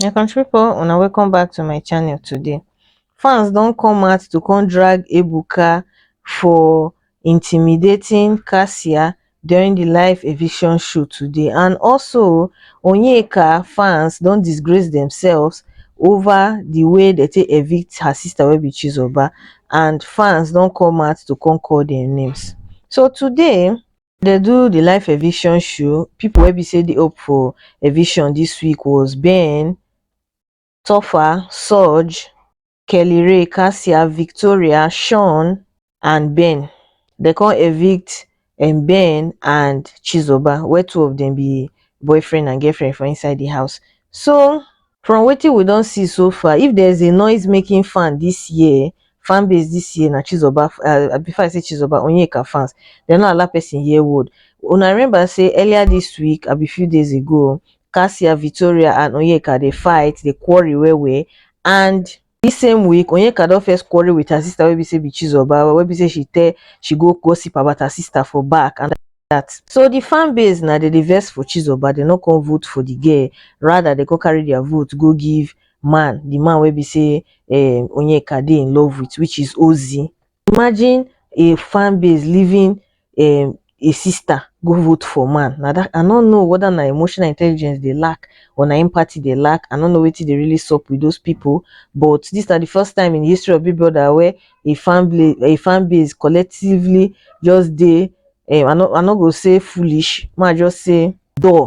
my country people una welcome back to my channel today fans don come out to come drag ebuka for intimidating cassia during the live eviction show today and also onyeka fans don disgrace themselves over the way they take evict her sister wey be chizoba and fans don come out to come call their names so today we dey do the live eviction show people wey be say dey hope for eviction this week was ben topher sooj kellyrae cassia victoria shawn and ben dem come evict um ben and chizoba wey two of dem be boyfriend and girlfriend for inside the house so from wetin we don see so far if there is a noise making fan this year fan base this year na chizoba uh, before i say chizoba onyeka fans dem no allow person hear word una remember say earlier this week abi few days ago cassia victoria and onyeka dey fight dey quarrel well well and Dis same week, Onyeka don first quarrel with her sister wey be say be Chizoba, wey be say she tell she go gossip about her sister for back and that. So the fan base na dem dey vex for Chizoba, dem no come vote for the girl, rather dem come carry their vote go give man, the man wey be say um Onyeka dey in love with which is Ozi. Imagine a fan base leaving um a sister go vote for man. Na that I no know whether na emotional intelligence they lack or na empathy they lack. I no know wetin dey really sup with those people. But this na the first time in the history of Big Brother where a fan bla- a fan base collectively just dey um I no I no go say foolish, ma just say dull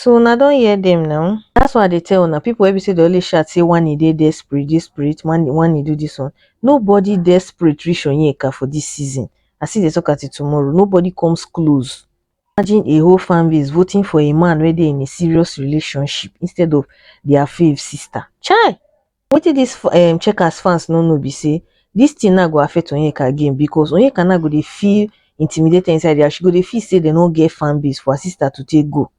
So una don hear them now? That's why I dey tell una people wey be say they always shout say one e dey desperate, this spirit, one one e do this one. Nobody desperate reach Onyeka for this season. I see the talk until tomorrow. Nobody comes close. Imagine a whole fan base voting for a man where they in a serious relationship instead of their fave sister. Chai! Wetin dis um Checkers fans no know be say dis thing now go affect Onyeka again because Onyeka now go dey feel intimidated inside there. She go dey feel say dem no get fan base for her sister to take go.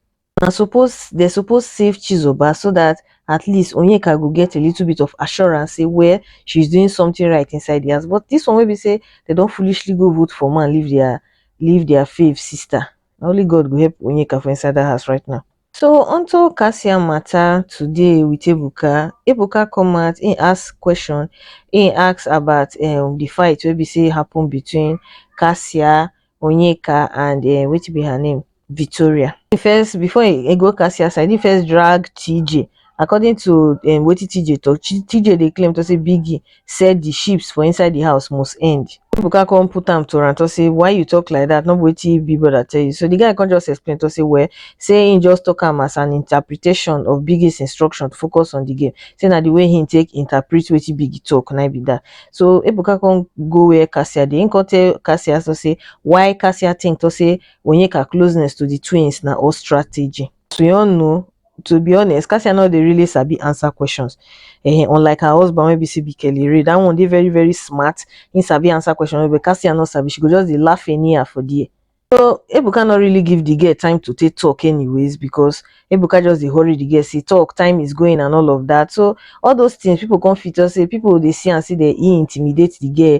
Na suppose dem suppose save Chizoba so that at least Onyeka go get a little bit of assurance say well she is doing something right inside the house but this one wey be say dem don foolishly go vote for man leave their leave their fave sister. Na only God go help Onyeka for inside that house right now. So onto Kasia matter today with Ebuka, Ebuka come out he ask question, he ask about um the fight wey be say happen between Kasia, Onyeka and um wetin be her name Victoria. He first before he, he go Kasia side he first drag TJ According to um wetin TJ talk, TJ dey claim to say Biggie said the ships for inside the house must end. Ebuka come put am to am to say why you talk like that, no be wetin Big Brother tell you. So the guy come just explain to say well, say he just talk am as an interpretation of Biggie's instruction to focus on the game. Say na the way he take interpret wetin Biggie talk na be that. So Ebuka come go where Cassia dey, he come tell Cassia to say why Cassia think to say Onyeka closeness to the twins na all strategy. to your know to be honest cassia no dey really sabi answer questions eh unlike her husband wey be say be kelly ray that one dey very very smart he sabi answer question well, but cassia no sabi she go just dey laugh anyhow for there so ebuka no really give the girl time to take talk anyways because ebuka just dey hurry the girl say talk time is going and all of that so all those things people come fit talk say people dey see am say dey e intimidate the girl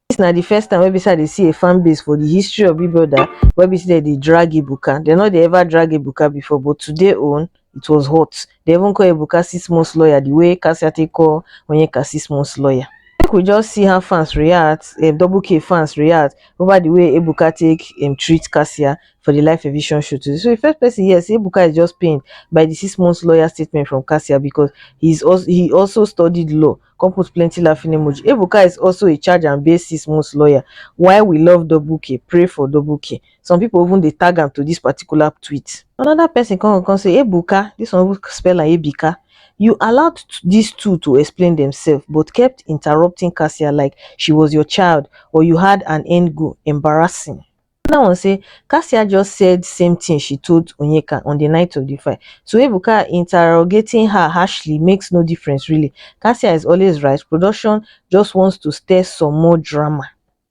dis na the first time wey be say i dey see a fan base for the history of big brother wey be say dem dey drag ebuka dem no dey ever drag ebuka before but today own it was hot dem even call ebuka six months lawyer the way kasia take call onyeka six months lawyer make we just see how fans react um, double k fans react over the way ebuka take um, treat kasia for the live eviction show today so the first person here say ebuka is just pained by the six months lawyer statement from kasia because he's also he also studied law come put plenty laughing emoji Ebuka is also a charge and bail six months lawyer why we love double k pray for double k some people even dey tag am to this particular tweet another person come come say Ebuka this one even spell am Ebika you allowed t- these two to explain themselves but kept interrupting Cassia like she was your child or you had an end goal embarrassing anoda one say kassia just said same tin she told onyeka on di night of di fight so ebuka interrogating her harshly makes no difference really kassia is always right production just wants to stir some more drama.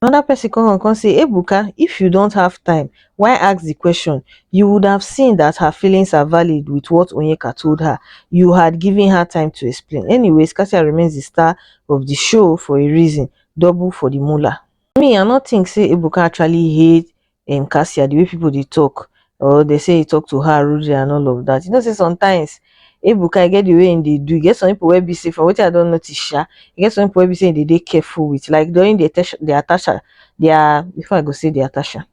Anoda pesin come on come say ebuka if you dont have time why ask di question you would have seen dat her feelings are valid with what onyeka told her you had given her time to explain anyways kassia remains di star of di show for a reason double for di moolah. me i no think say ebuka actually hate um kasia the way people dey talk or dey say he talk to her rudely and all of that you know say sometimes ebuka e get the way he dey do e get some people wey be say from wetin i don notice sha e get some people wey be say he dey dey careful with like during the attack the attack their before i go say the attack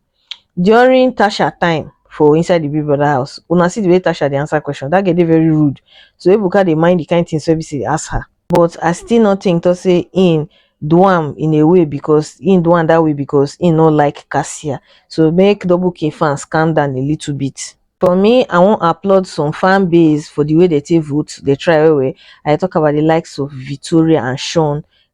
during tasha time for inside the big brother house una see the way tasha dey answer question that girl dey very rude so ebuka dey mind the kind things wey be say dey ask her but i still no think to say im do am in a way because im do am that way because im no like cassia so make double k fans calm down a little bit for me i wan applaud some fan base for the way they take vote they try well well i dey talk about the likes of victoria and sean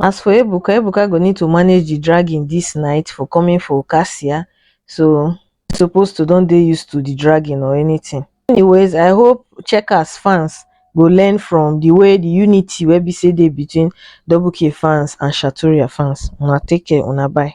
As for Ebuka, Ebuka go need to manage the dragging this night for coming for Cassia, so he suppose to don dey used to the dragging or anything. Anyways, I hope Checkers fans go learn from the way the unity wey be say dey between Double K fans and Shatoria fans. Una take care, una bye.